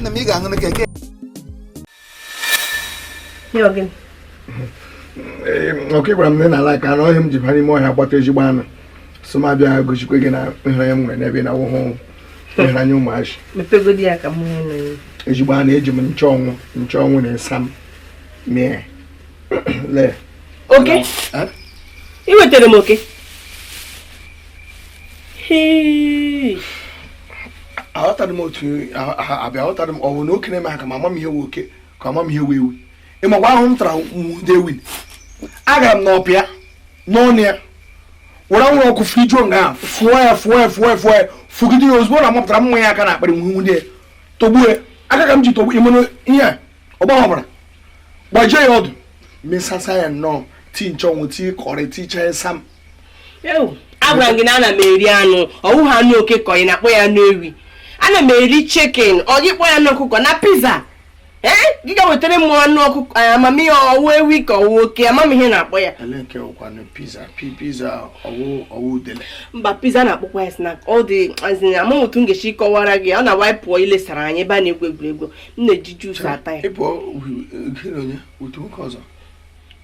nna m ị ga-aṅụ na keke ọka gwara m na ị na-ala aka anụ ọhịa m ji bara ime ọhịa gbata ezigbo anụ sị m abịa gosikwa gị na ịhụnanya m nwere n'ebe ị nọ awụhụ ịhụnanya ụmụazị ezigbo anụ eji m nchọnwụ nchọnwụ na ịsa m mee lee oke i wetara m oke aghọtara m otu abịa aghọtara m ọwụ na oke na-eme ha ka ma ama m ihe wụ oke ka ama m ihe wụ ewi ị makwa ahụhụ m tara nwude ewi agara m n'ọhịa n'ọnụ ya were anwụrụ ọkụ fụjuo nga ahụ fụọ ya fụọ ya fụọ ya fụọ ya fụgide ya ozugbo ọ mapụtara m ma ya aka n'akpịrị nwude ya tọgbuo aka ka m ji tọgbu ịmụnụ ihe a ọ gbahụ ọbara gbajie ya ọdụ mesasa ya nnọọ tii nchọnwụ tii curry tii chee sam agwara m gị na ana m eri anụ ọ wụ ha anụ oke ka ị na-akpọ ya anụ ewi ana m eri chicken ọ gị kpọ ya anụ ọkụkọ na pizza ee eh? gị gaa wetara m anụ ọkụkọ eh, ama m ihe ọ wụ ewi ka ọ wụ oke ama m ihe a na-akpọ ya mba pizza a na-akpọkwa ya snack ọ dị as in amaghị otu m ga-esi kọwara gị ọ na-awa pụọ ilesara anyị ebe a na-egwu egwuregwu m na-eji juice ata ya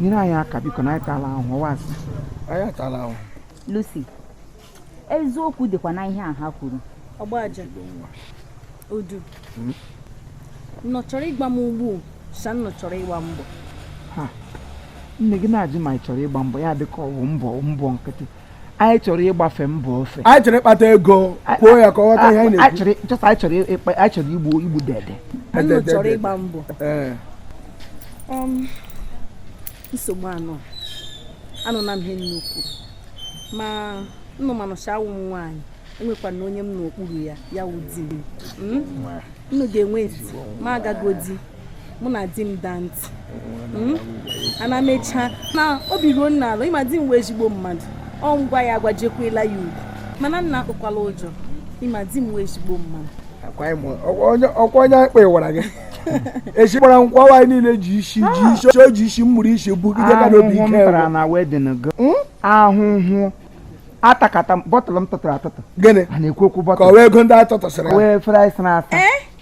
nyere anyị aka biko na anyị atala ahụ ọ wụ asị anyị atala ahụ Lucy eziokwu dịkwa na ihe a ha kwuru ọgbaja odu hmm? nnụ chọrọ ịgba m ugbu sa nnụ chọrọ ịgba mbọ nne gị na-ajụ ma anyị chọrọ ịgba mbọ ya dịka ọ wụ mbọ mbọ nkịtị anyị chọrọ ịgbafe mbọ ofe anyị chọrọ ịkpata ego kwuo ya ka ọ ghọta ihe anyị na-ekwu anyị chọrọ ịkpa anyị chọrọ igbu dede nnụ chọrọ ịgba mbọ um, nsogbu anọ anụna m ihe nnụ kwuru ma nnụ manụcha awụ m nwaanyị enwekwana onye m nọ n'okpuru ya ya wụ di m hmm? nnụ ga-enwe ma agagodi mụ na di m daa ntị hmm? ana mechaa na obi ruo nnụ ala ị ma di m wụ ezigbo mmadụ ọ ngwa ya agwajekwela ya ugwu mana nnụ atụkwala ụjọ ị ma di m wụ ezigbo mmadụ ọkwa onye akpa ịwara gị echi gbara nkwa nwaanyị niile ji isi ji ah. isi o ji isi mmụrụ isi bugide ka n'obi ike hmm? ahụhụ atakata bottle m tụtụrụ atụtụ gịnị ka ọ wụ ego ndị atụtụsịrị wee fere anyị sịrị asa eh?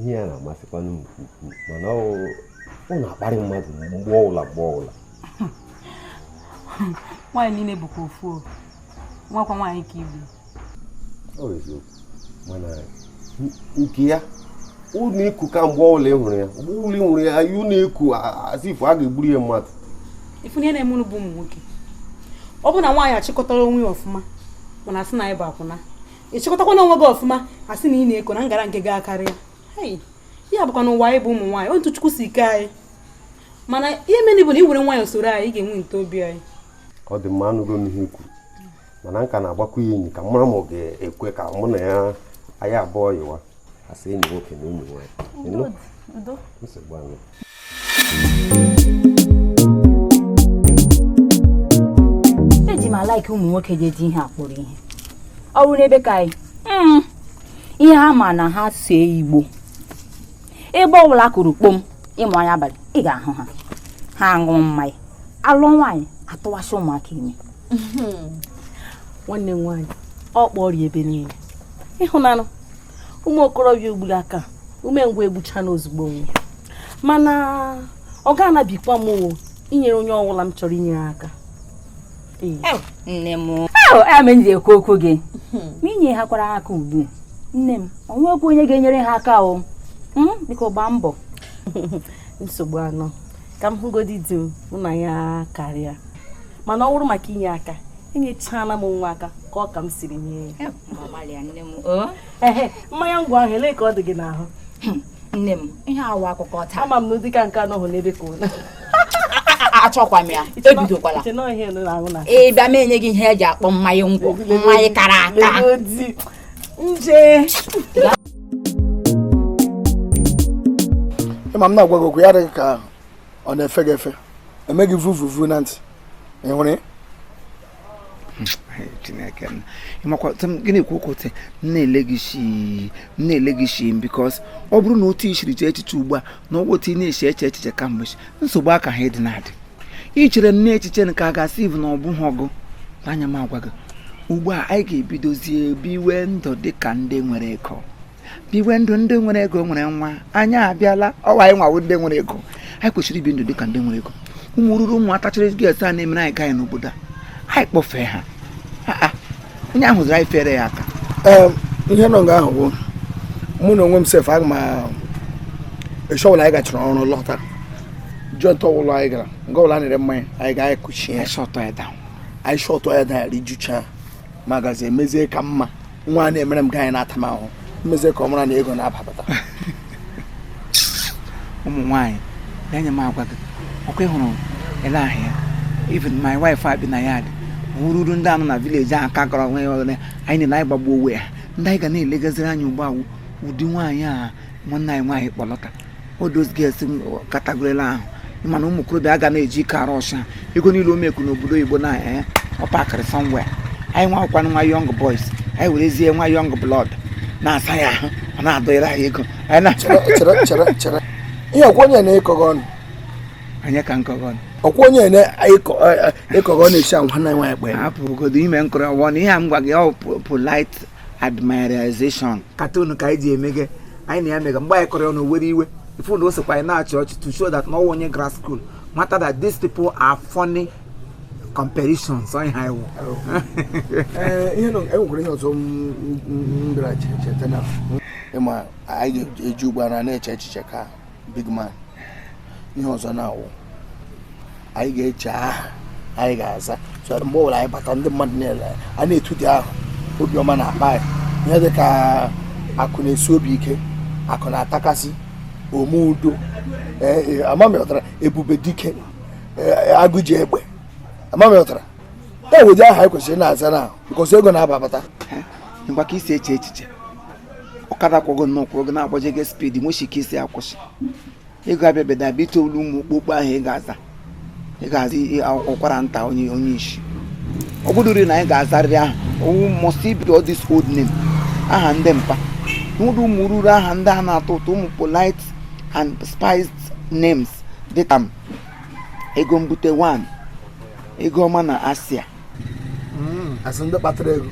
ihe ya na-amasịkwanụ m mana ọ na-akparị mmadụ mgbe ọbụla mgbe ọbụla nwaanyị niile bụkwa ofu ọ wụkwa nwaanyị ka ị bụ ọ eziokwu mana nke ya ọ na-eko ka mgbe ọbụla ị hụrụ ya mgbe ọbụla ị hụrụ ya ọ na-eko as if a ga-egburu ya mmadụ ị fụ ihe na-eme unu bụ ụmụ nwoke ọ bụ na nwaanyị achịkọtarọ onwe ya ọfụma unu asị na anyị bụ akwụna ị chịkọtakwanụ onwe gị ọfụma asị na ị na-eko na ngara nke gị akarịa ya bụkwanụ ụwa anyị bụ ụmụ nwaanyị otu chukwu si kee anyị mana ihe mere bụ na ị were nwayọ soro anyị ị ga-enweta obi anyị ọ dị mma anụgo m ihe i kwuru mana m ka na-agbakwa ya enyi ka m mara ma ọ ga-ekwe ka mụ na ya anyị abụọ yiwe as enyi nwoke na enyi nwaanyị nsogbu anọ eji m alike ụmụ nwoke ji eji ihe akpọrọ ihe ọ bụrụ n'ebe ka anyị hmm. ihe ha ma na ha see igbo ebe ọbụla kụrụ kpom ịmụ anya abalị ị ga-ahụ ha ha aṅụ mmanya ala nwaanyị atụwasị ụmụaka ime hmm. nwanne m nwaanyị ọ kpọrọ ebe niile ịhụnanụ ụmụ okorobịa ugburu a ka umengwụ egbucha n'ozugbo nwe mana ọ ga-anabikwa m inyere onye ọbụla m chọrọ inyere aka nne m ọ ya mere m ji ekwu okwu gị hmm. ma i nyehakwara aka ugbu nne m ọ nwekwa onye ga-enyere ha aka o hmm? biko gbaa mbọ nsogbu anọ ka m hụgodi di m mụ na ya karịa mana ọ bụrụ maka inye aka enyechana m nwa aka ka ọ ka m siri nye ya mmanya ngwọ ahụ ele ka ọ dị gị n'ahụ hmm, nne m ihe a wụ akụkọ taa ama m na ụdịka nke anọghị n'ebe ka unu achọkwa m ya ebidokwala ị bịa m enye gị ihe e ji akpọ mmanya ngwọ mmanya kara aka nke ị ma m na-agwa gị okwu ya adị gị ka ọ na-efe gị efe eme gị vuvuvu na ntị ị hụrụ chineke m ị makwa gịnị ka okote m na-ele gị shi m na-ele gị shi m because ọ bụrụ na otu i siri chee echiche ugbu a na ọ wụ otu ị na-eche eche echiche kamgbe nsogbu a ka ha dị na-adị i chere na echiche nke a ga-asị ivu na ọ bụghị ọgụ anya m agwa gị ugbu a anyị ga-ebidozie biwe ndụ dị ka ndị nwere ego biwe ndụ ndị nwere ego nwere nwa anyị abịala ọ wụ anyị nwa wụ ndị nwere ego anyị kwesịrị ibi ndụ dị ka ndị nwere ego ụmụ ururu ụmụ atachiri girls a na-emere anyị guy n'obodo a anyị kpọfee ha onye ahụ zụrụ anyị fere ya aka ihe nọ nga ahụ bụ mụ na onwe m sef aga m eshi ọwụla anyị gachara ọrụ lọta joint ọwụla anyị gara nga ọbụla a na-ere mmanya anyị ga anyị kụchie anyị shut ya down anyị shut ya down rijucha m agazie mezie ka mma nwa a na-emere m guy na-ata m ahụhụ m mezie ka ọ mara na ego na-abapụta ụmụ nwaanyị ya nye m agwa gị ọkwa ị hụrụ ele ahụ ya even my wife abi na ya ndị ururu ndị a nọ na village ahụ ka kọrọ nwe ọgụle anyị na anyị gbagbuo onwe ya ndị anyị ga na-elegaziri anya ugbu a wụ ụdị nwaanyị a nwanne anyị nwaanyị kpọlọta all those girls category ahụ ị ma na ụmụ okorobịa aga na-eji ike arụ ọcha ego niile o make n'obodo oyibo na eh, ọ packịrị somewhere anyị nwa wụkwanụ nwa young boys anyị werezie nwa young blood na-asa ya ahụ ọ na-adọnyere anyị ego anyị na chere chere chere ihe ọkwa onye na-akọ gị ọnụ onye ka m kọ gị ọnụ ọkwa onye na-akọ gị ọnụ esi anwa na nwa ekpe hapụgodo ime nkụrụ ọwọ na ihe a m gwa gị ọ polite admirization cartoon ka anyị ji eme gị anyị na ya mega mgbe anyị kọrọ ya ọnụ o were iwe i fu na o sokwa anyị na-achị ọchị to show that na ọ wụ onye gara school mata that these people are funny comparisons onye ha iwu Ee, ihe nọ ya o nwekwara ihe ọzọ m- m- m bịara che- cheta na ị ma anyị ga-eji ugbu a na-eche echiche ka big man ihe ọzọ na-awụ anyị ga-eche aha anyị ga-aza so mgbe ọbụla anyị bata ndị mmadụ niile a na-etu dị aha obiọma na-akpọ anyị ihe dị ka akụ na-esi obi ike akụ na-atakasị ome udo e, ama m ị ghọtara ebube dike e, agụ ji egbe ama m ị ghọtara e nwedị aha anyị kwesịrị na-aza now because ego na-ababata mgbe ka i si eche echiche ọkada kwọ gị nnọọ kwọrọ gị na-agbaje gị speed nwechi ike isi akwụsị ị ga-abịa beda bịa ite olu ụmụ okpokpo aha ị ga-aza ị ga-aza ọkwara nta onye onye isi ọ bụdụri na anyị ga-azarịrị aha ọ wụ must be all this old name aha ndị mpa n'ụdị ụmụ ruru aha ndị a na-atọ ụtọ ụmụ polite and spiced names dịka m ego mbute 1 ego ọma na asia hmm, a sị ndị kpatara ego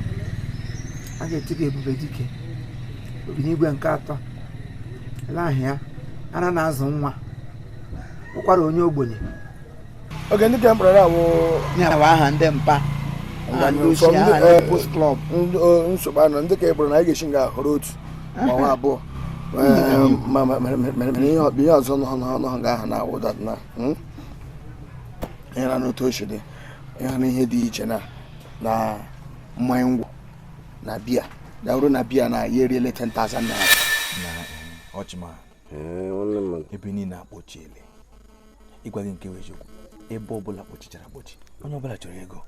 a ga-echi gị ebube dike obinigwe nke atọ ele ahịa ara na-azụ nwa ọkwara onye ogbenye oge ndị ka m kpọrọ a wụ ya bụ aha ndị mpa nsogbu anọ ndị ka ọ bụrụ na anyị ga-esi nga ahụ họrọ otu ma ọ wụ abụọ mere ihe ọzọ nọ nga ahụ na-awụ that na ịra n'otu o si dị ya na ihe dị iche na na mmanya ngwọ na biya ya bụrụ na biya na ya eriele 10,000 naira na ọchịma ebe niile akpọchiele ịgwa gị nke bụ eziokwu ebe ọbụla kpọchichara akpọchi onye ọbụla chọrọ ego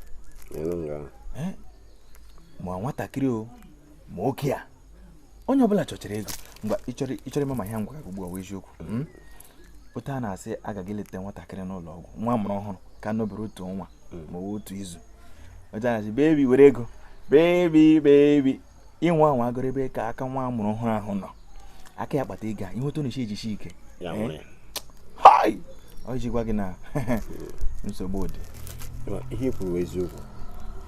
ma nwatakịrị o ma oke a onye ọbụla chọchara ego mgbe ị chọrọ ị chọrọ ịma ma ihe m gwa ugbu a wụ eziokwu hmm? otu a na-esi aga ga eleta nwatakịrị n'ụlọ ọgwụ nwa a mụrụ ọhụrụ ka nọbere otu ọnwa hmm. ma otu izu otu a na-asị baby were ego baby baby ị nwa anwa garu ebe ka aka nwa a mụrụ ọhụrụ ahụ nọ aka ya kpata ego a ị hụ otu ọ na-esi ejichi ike eh? ọ iji gwa gị na nsogbu dị ihe i kwuru eziokwu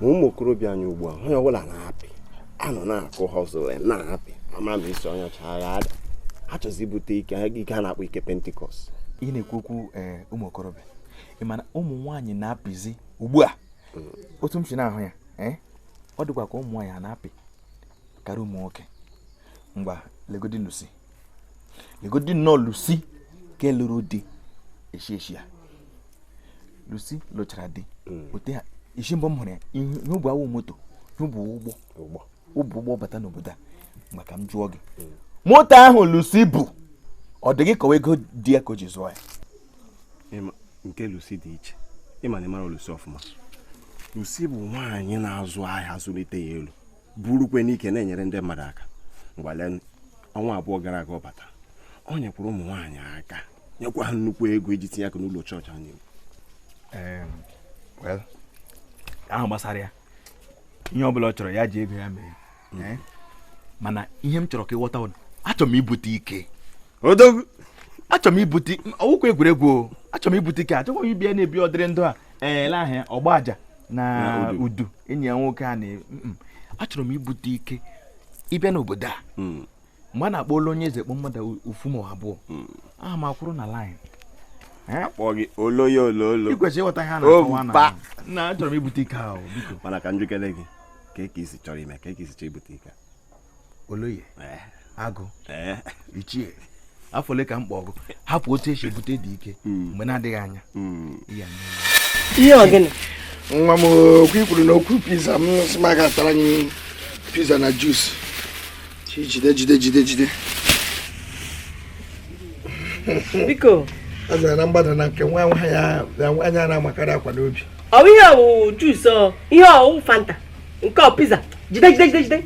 ma ụmụ okorobịa anyị ugbu a onye ọbụla na-apị a nọ na-akụ hustle na-apị ama na isi onye ọcha agaghị ada ha achọzi ibute ike ike a na-akpọ ike pentecost ị na-ekwu okwu eh, ụmụ okorobịa ị ma na ụmụ nwaanyị na-apịzi ugbu a mm. otu m si na-ahụ ya eh, ọ dịkwa ka ụmụ nwaanyị a na-apị karịa ụmụ nwoke ngwa legodi lucy legodi nnọọ lucy ka lụrụ di eshi eshi a lucy lụchara di hmm. ote ha isi mbụ m hụrụ ya ihe o bu a wụ moto ihe o bu ụgbọ o bu ụgbọ bata n'obodo a ma ka m jụọ gị hmm. moto ahụ lucy bu ọ dị gị ka ọ wụ ego di ya ka o ji zụọ ya nke lucy dị iche ị ma na ị mara lucy ọfụma lucy bụ nwaanyị na-azụ ahịa zụlite ya elu burukwe n'ike na-enyere ndị mmadụ aka ngwa lee ọnwa abụọ gara aga ọ bata ọ nyekwara ụmụ nwaanyị aka nyekwa ha nnukwu ego iji tinye aka n'ụlọ chọọchị anyị ahụ gbasara ya ihe ọ bụla ọ chọrọ ya ji ego ya mee eh? mana ihe m chọrọ ka ị ghọta achọrọ m ibute ike odogwu achọrọ m ibute ọ wụkwa egwuregwu achọrọ m ibute ike achọkwa m ịbịa na-ebi ụdịrị ndụ a ele ahịa ọgba aja na udu enyi ya nwoke a na achọrọ m ibute ike ịbịa n'obodo a hmm. mgbe a na-akpọ olu onye eze kpọ mmadụ ofu ma abụọ hmm. aha m akwụrụ na line akpọ gị oloye ololo i kwesịrị ịghọta ihe a na-akọwa na na achọrọ m ibute ike ahụ biko mana ka m jụkene gị ka i si chọrọ ime ka i si chọọ ibute ike oloye eh. agụ eh. ichie afa ole ka m kpọọ gị hapụ otu esi ebute dị ike hmm. mgbe na-adịghị anya hmm. ihe ọ gịnị nwa m okwu i kwuru na okwu pizza m sị m gotara anyị pizza na juice jide jide jide jide biko a zara na mgbada na nke nwa nwa ya anya na-amakarị akwa n'obi ọ bụ ihe ọ wụ wụ juice ihe ọ wụ wụ fanta nke ọ pizza jide jide jide jide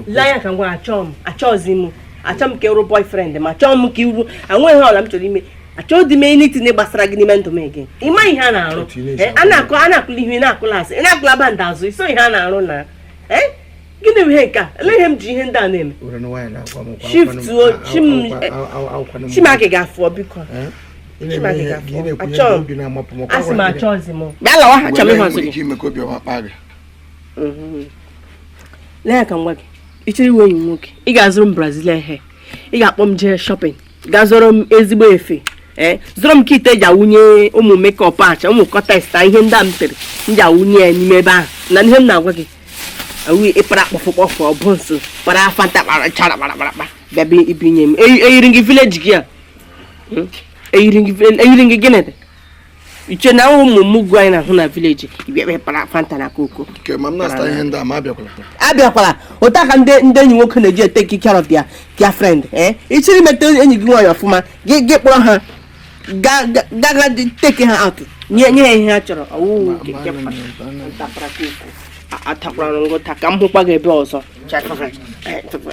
lee anya ka m gwa gị achọọ m achọọzi m achọ m ka ị wụrụ boyfriend m achọọ m ka ị wụrụ enweghị ihe ọ bụla m chọrọ ime achọdị m anything gbasara gị n'ime ndụ m ege ị ma ihe a na-arụ eh, a na-akụ a na-akụla ihe na-akụla asị ị na-akụla band azụ iso ihe a na-arụ na eh, gịnị bụ ihe nke a lee ihe m ji ihe ndị a na-eme shiftuo chimaki ga-afụọ biko eh? ị chọrọ ịwụ enyi m nwoke ị ga-azụrụ m brazilian hair ị ga-akpọ m jee shopping gaa zụrụ m ezigbo efe ee zụrụ m kit e ji awụnye ụmụ makeup acha ụmụ cortex ihe ndị a m tere m ji awụnye ya n'ime ebe ahụ na ihe m na-agwa gị awụghị ịpara puff puff buns para fanta para chara para para para bịa ibunye m eyiri m gị village girl hmm? eyiri m gị gịnị dị iche na ụmụ mugu anyị na-ahụ na village bịa para fanta na coke abịakwala otu a ka ndị ndị enyi nwoke na-eji take care of their their friend eh? ị chọrọ imeta enyi gị nwaanyị ọfụma gị gị kpọrọ ha gaga take ha out nye nye ha ihe ha chọrọ ọwụwụ atakwara m ụta ka m hụkwa gị ebe ọzọ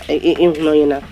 ị hụ na onye na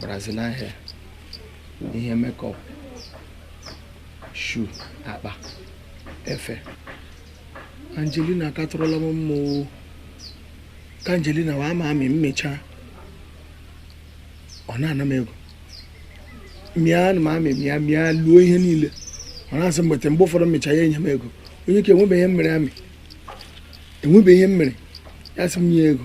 Brazilian hair ihe makeup shoe akpa efe Angelina katụrụla m mma o ka Angelina wee ama amị mmecha ọ na-ana m ego mịa na m amị mịa mịa luo ihe niile ọ na-asị m bute mgbe ụfọdụ mmecha ya enye m ego onye ka enwebeghị ihe m mere amị enwebeghị ihe m mere ya sị m nye ego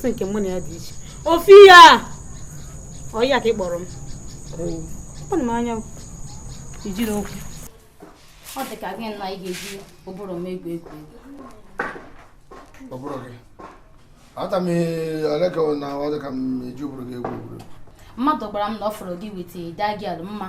sị nke mụ na ya dị iche ofi ya ọ ya ka ị kpọrọ m anya ijiri okwu ọ dị ka gị na ị ga-eji ụbụrụ m egwu egwu ụbụrụ gị ata m ole ka na ọ dị ka m eji ụbụrụ gị egwu egwu mmadụ gwara m na ọ fụrụ gị with that girl mma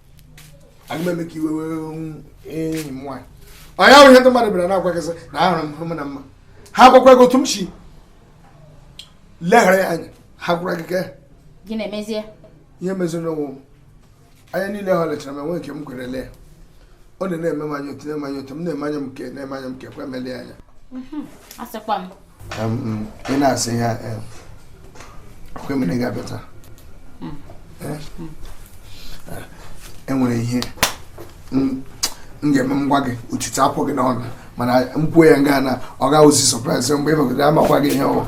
aga m eme ka iwe wee enyi m nwaanyị ọ ya wụ ihe ndị mmadụ bịara na-agwagasị na ahụrụ m hụrụ m na mma ha gwakwa gị otu m si leghara ya anya ha gwara gị gaa gị na-emezie ihe meziri n'ụwa m anya niile ha lechara m enwe nke m kwere lee ọ na-eme m anya otu na-eme anya m nke kwe m elie anya asịkwa m ị na-asị ya ọkwa mere ga-abịa taa enwere ihe m ga-eme m gwa gị ọchị apụọ gị n'ọnụ mana m kwuo ya nga na ọ gaghị awụzi surprise mgbe ị bagoro amakwa gị ihe ọ wụ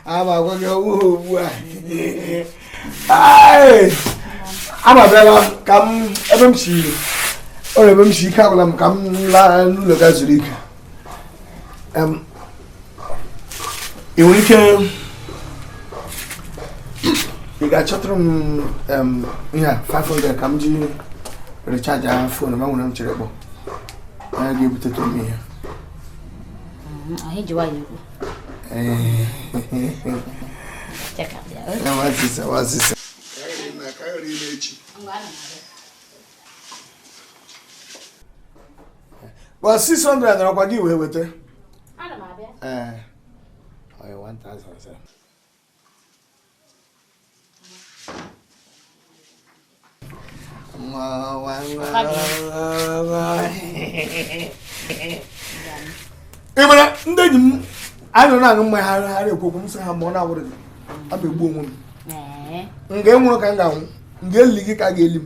amakwa gị ọ wụ ugbu a amabịala ka m ebe m si o ebe m si ike agwụla m ka m laa n'ụlọ gaa zuru ike ị nwere ike ị ga-achọtụrụ m ihe a 500 ka m ji recharge phone m a nwere m chere kpọọ onye ga-ebutetụ m ihe Check out the other. Well, 600 na ọkwa gị wee weta. Ana m abịa. Ee. Oya 1000. ị mara ndị enyi m anyị nọ na-aṅụ mmanya ha ha na-ekwu okwu m sị ha ma ọ na-awụrụ gị aga m egbu onwe m nga ị nwụrụ ka m ga-anwụ nga e li gị ka a ga-eli m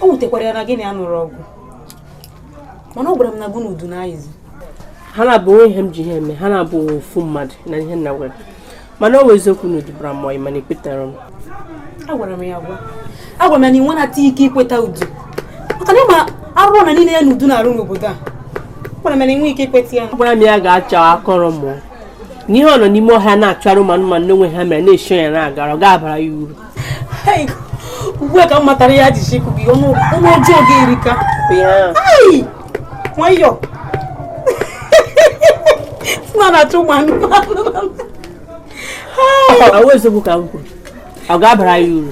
o wutekwara ya na gị na ya nụrụ ọgụ mana ọ gwara m na gụ na udu na ayizi ha naabọ o nwe ihe m ji ha eme ha na-abụ ofu mmadụ na ihe nna gwara mana ọ wụ eziokwu na udu bara mmụọ mana ekwetara m agwara m ya agwa agwara m ya na i nwenata ike ikweta udu maka na ị ma arụrụala niile ya na udu na-arụ n'obodo a gwara m ya na inwe ike ikweta ya agwara m ya gachaa akọrọ mụ n'ihe ọ nọ n'ime ọhịa na-achụ ụmụ anụmanụ n'onwe ha mere na-eshi ya na-agara ọ ga-abara ya uru ugbu a ka m matara ya jisi ikwu gị ọnụ ọjọọ gị erika nwayọ na na-achụ ụmụ anụmanụ ọ wụ eziokwu ka m kwuru ọ ga-abara ya uru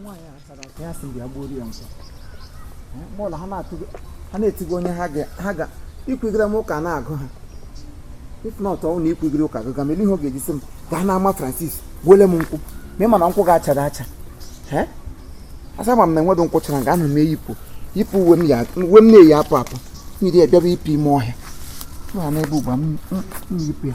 nwaanyị a chara ka ya sị bịa gbuo ya nso mọlụ ha na-atụgo ha na-etigo onye ha ga ha ga ikwugide m ụka na-agụ ha if not ọ wụ na ikwugide ụka gụga m ihe ọ ga-eji sị m gaa n'ama Francis gbuole m nkwụ ma ị ma na nkwụ ga-achara acha ee asa ma m na enwedo nkwụ chara ga ana m eyipụ yipụ uwe m ya uwe m na-eyi apụ apụ m yiri ya bịaba ịpụ ime ọhịa nọ n'ebe ugbu a m m- m yipụ ya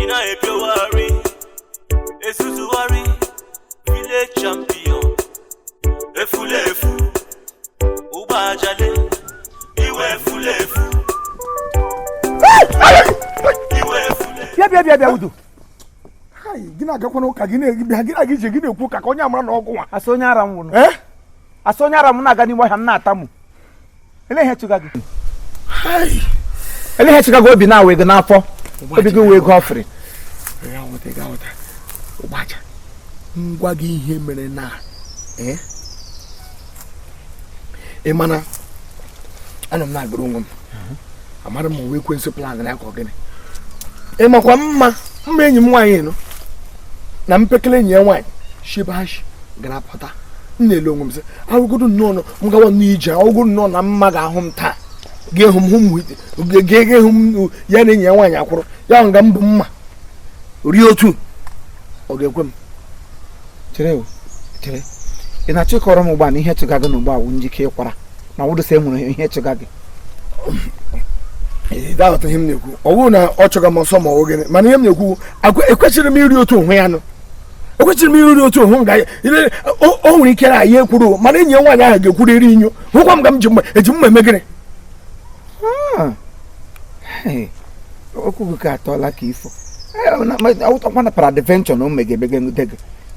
ị na-ebiowari ezuzugharị village champion efulefu ụgbọ ajali ị wụ efulefu ị wụ efulefu bịa bịa bịa bịa udo Hai, gị na-agakwana ụka gị na-ebịa gị na-aga ije gị na-ekwu ụka ka onye a mara n'ọgwụ nwa asị onye ara m nwụrụ Eh? asị onye ara m na-aga n'ime ọhịa m na-atamu ele ihe chụga gị ele ihe chụga gị obi na-awe gị n'afọ obi gị wee gị ọfịrị ngwa gị ihe mere na eh? ị mana anọ m na-agụrụ onwe m amara m wee explain na akọ gịnị ị makwa mma mma enyi m nwaanyị nọ na mpekele enyi ya nwaanyị shi be ha shi gara pụta m na-ele onwe m sị ahụgodu nnọọ nọ m gawa n'ije ahụgodu nnọọ na mma ga-ahụ m taa ga-ehụ m hụ m ga-ehụ m ya na enyi ya nwaanyị akwụrụ ya nga m bụ mma rie otu ọ ga-ekwe m chere chere ị na-achọ ịkọrọ m ugbu a na ihe chụga gị n'ugbu a wụ njike ị kwara ma ọ bụrụsa e nwere ihe chụga gị ị da-aghọta ihe m na-ekwu ọ bụrụ na ọ chụga m ọsọ ma ọ gịnị mana ihe m na-ekwu ekwesịrị m iri otu onwe ya nụ ekwesịrị m iri otu onwe m ga o nwere ike na ya ekwuru mana enyi ya nwaanyị ahụ ga-ekwuru iri inyo hụkwa m ga m ji mma eji mma eme gịnị ah. okwu gị ka atọla ka ifo ọ wụtakwa na peradventure na o megebe gị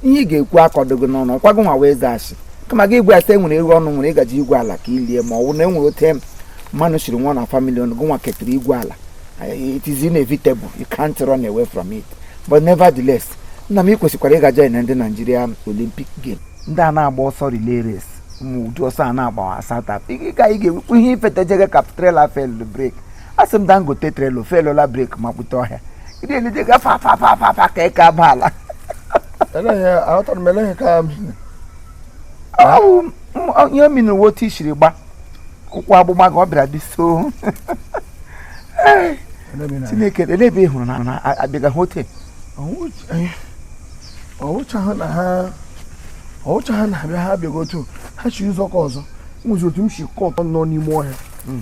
ihe ị ga-ekwu akọdogo n'ọnụ ọkwa gị nwa wee zaghachi kama gị igwe asa e nwere ego unu nwere ị ga-eji igwu ala ka i lie ma ọ bụ na e nwere otu mmadụ shiri nwụọ na famili unu gị nwa ketara igwu ala it is inevitable you can't run away from it but nevertheless nna m ị kwesịkwara ịga join ndị naijiria olympic game ndị a na-agba ọsọ relay race ma ụdị ọsọ a na-agba asatọ ị ga-ewepụ ihe ifetejege ka trailer fail brake asị m dangote trailer failụla brake makpute ọhịa ndị elije gafe afafafafa ka eke aba ala aghọtara m eleghị ka ihe mi na uwe otu i siri gba ụkwụ agbụgba gị ọ bịara dị so chineke elebe ị hụrụ na-abịaga hotel ọwụchaghị na ha ọwụchaghị na abịa ha abịaghị otu ha shi ụzọ ka ọzọ nwụzi otu m si kọtọ nọ n'ime ọhịa hmm.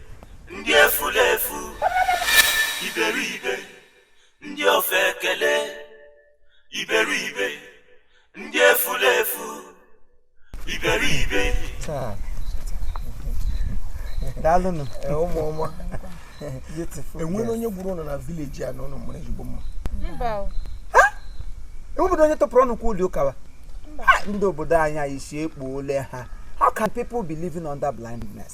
ndị efulefu iberibe ndị ofeke iberibe ndị efulefu iberibe daalụnụ eh, ụmụ ọma enwere onye gburu ụlọ na vileji a na ụlọ mụrụ ezigbo mma enwebedo onye tọpụrụ ọnụ kwa ụdị ụka a ndị obodo anyị anya isi ekpuole ha how can people be living under blindness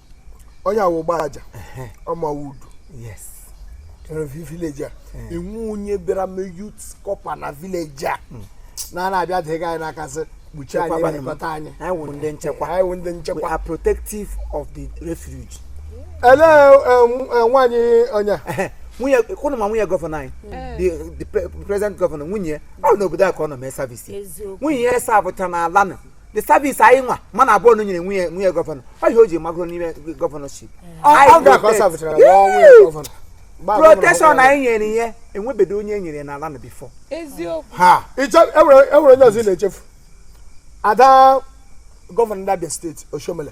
onye a wụ ọgba aja ọmawudu vileji a e nwere onye bịara mee youth corper na vileji a hmm. na na-abịa dịghị anyị n'aka sị kpuchie anyị na-elekọta anyị anyị wụ ndị nchekwa anyị wụ ndị nchekwa we are protective of the refuge ele nwaanyị onye nwunye kwụnụ ma nwunye gọvanọ anyị the present gọvanọ nwunye ọ n'obodo a ka ọ nọ mee service nwunye ya eservecha n'ala the service anyị nwa mmadụ abụọ nụ nyere nwunye gọvanọ ọ ihe o ji magoro n'ime governorship protection anyị nyere ihe enwebedo onye e nyere n'ala a before enwere e onye ọzọ na-echefu ada gọvanọ ndị abịa steeti oshiomhole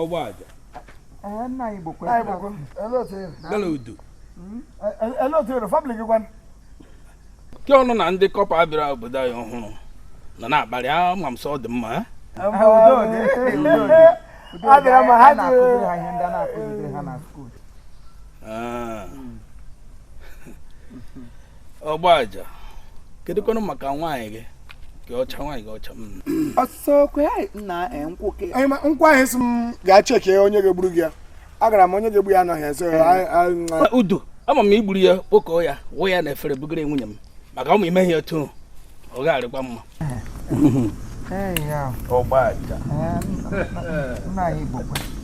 ọgba aja kee unu na ndị corper bịara obodo anyị ọhụrụ nọ na-akparị ama m sọ ọ dị mma eh? Ah. ọgba aja kedụkwanụ maka nwaanyị gị ke ọcha nwaanyị gị ọcha nkwụ ahụ ị sị m gaa check onye ga-egburu gị ya agara m onye ga-egbu ya anọghị ya so udo ama m igburu ya kpokọọ ya wụ ya n'efere bugara nwunye m maka ọ ma ime ihe otu ọ ga-arịkwa mma ọgba aja